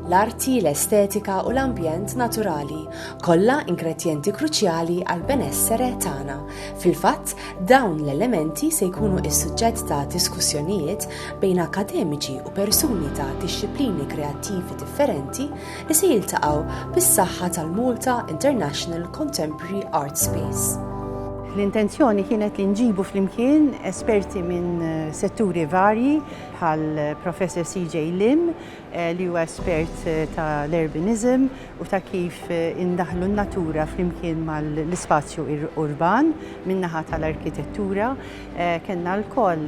l-arti, l-estetika u l-ambjent naturali, kollha ingredjenti kruċjali għall-benessere tagħna. Fil-fatt, dawn l-elementi se jkunu s-suġġett ta' diskussjonijiet bejn akkademiċi u persuni ta' dixxiplini kreattivi differenti li se jiltaqgħu bis-saħħa tal-Malta International Contemporary Art Space. L-intenzjoni kienet li nġibu flimkien esperti minn setturi varji bħal Professor CJ Lim li huwa espert ta' l-urbanism u ta' kif indaħħlu n-natura flimkien mal-ispazju urban min-naħa ta' l-arkitettura. Kellna lkoll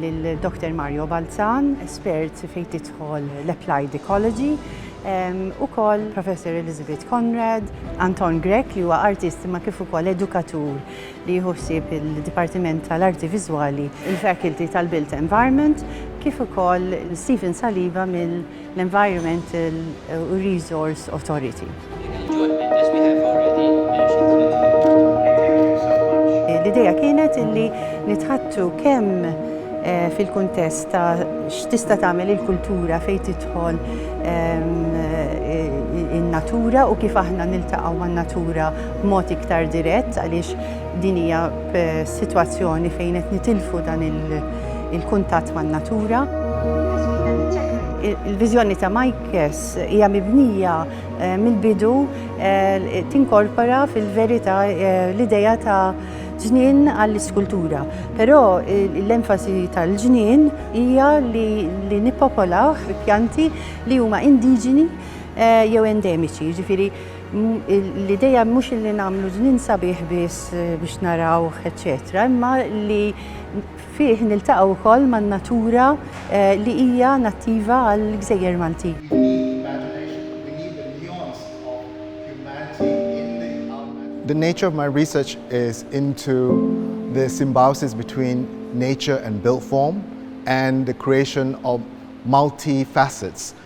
lil Doktor Mario Balzan, espert fejn tidħol l-applied ecology, ukoll Professor Elizabeth Conrad, Anton Grech li huwa artist imma kif ukoll edukatur li jieħu ħsieb il-Dipartiment tal-Arti Viżwali, il-Faculty tal-Built Environment, kif ukoll Stephen Saliba mill-Environmental u Resource Authority. L-idea kienet li nitħaddtu kemm fil-kuntest ta' x'tista' tagħmel il-kultura fejn tidħol in-natura u kif aħna niltaqgħu man-natura, b'mod iktar dirett għaliex din hija sitwazzjoni fejn qed nitilfu dan il-kuntatt man-natura. Il-viżjoni ta' Majkes hija mibnija eh, mill-bidu eh, tinkorpora fil-verità eh, l-idea ta' ġnien għall-iskultura. Però l-enfasi tal-ġnien hija li nippopolaw pjanti li huma indiġeni eh, jew endemiċi, ġifiri L-idea mhux li nagħmlu żmien sabiħ biss biex narawh eċċetera, imma li fih niltaqgħu wkoll man-natura li hija nattiva għall-gżejjer Maltin. The nature of my research is into the symbiosis between nature and built form and the creation of multi facets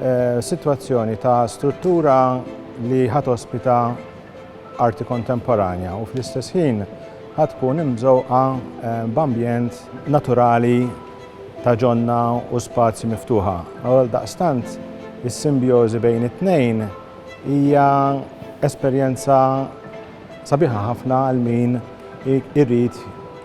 eh, sitwazzjoni ta' struttura li ħat ospita arti kontemporanja u fl-istess ħin ħat tkun imżewqa eh, b'ambjent naturali ta' ġonna u spazji miftuħa. Għal daqstant, is-simbjożi bejn it-tnejn hija esperjenza Sabiħa ħafna għal min irid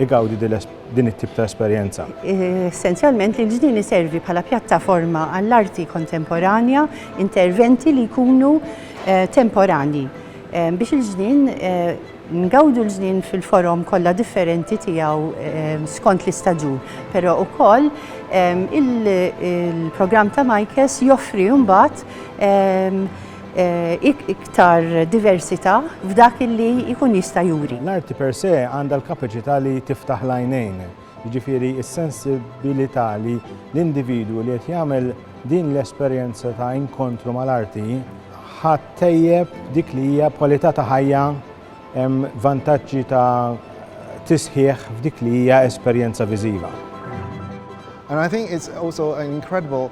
igawdi din it-tip ta' esperjenza. Essenzjalment l-Ġnien iservi bħala pjattaforma għall-arti kontemporanja, interventi li jkunu temporanji. Biex il-Ġnien, ngawdu l-Ġnien fil-forom kollha differenti tiegħu skont l-istaġun. Però wkoll il-programm ta' Majkes joffri mbagħad iktar diversità f'dak li jkun jista' juri. L-arti per se għandha l-kapaċità li tiftaħ l-għajnejn, jiġifieri s-sensibilità li l-individwu li qed jagħmel din l-esperjenza ta' inkontru mal-arti ħa ttejjeb dik li hija kwalità ta' ħajja, vantaġġi ta' tisħiħ f'dik li hija esperjenza viżiva. And I think it's also an incredible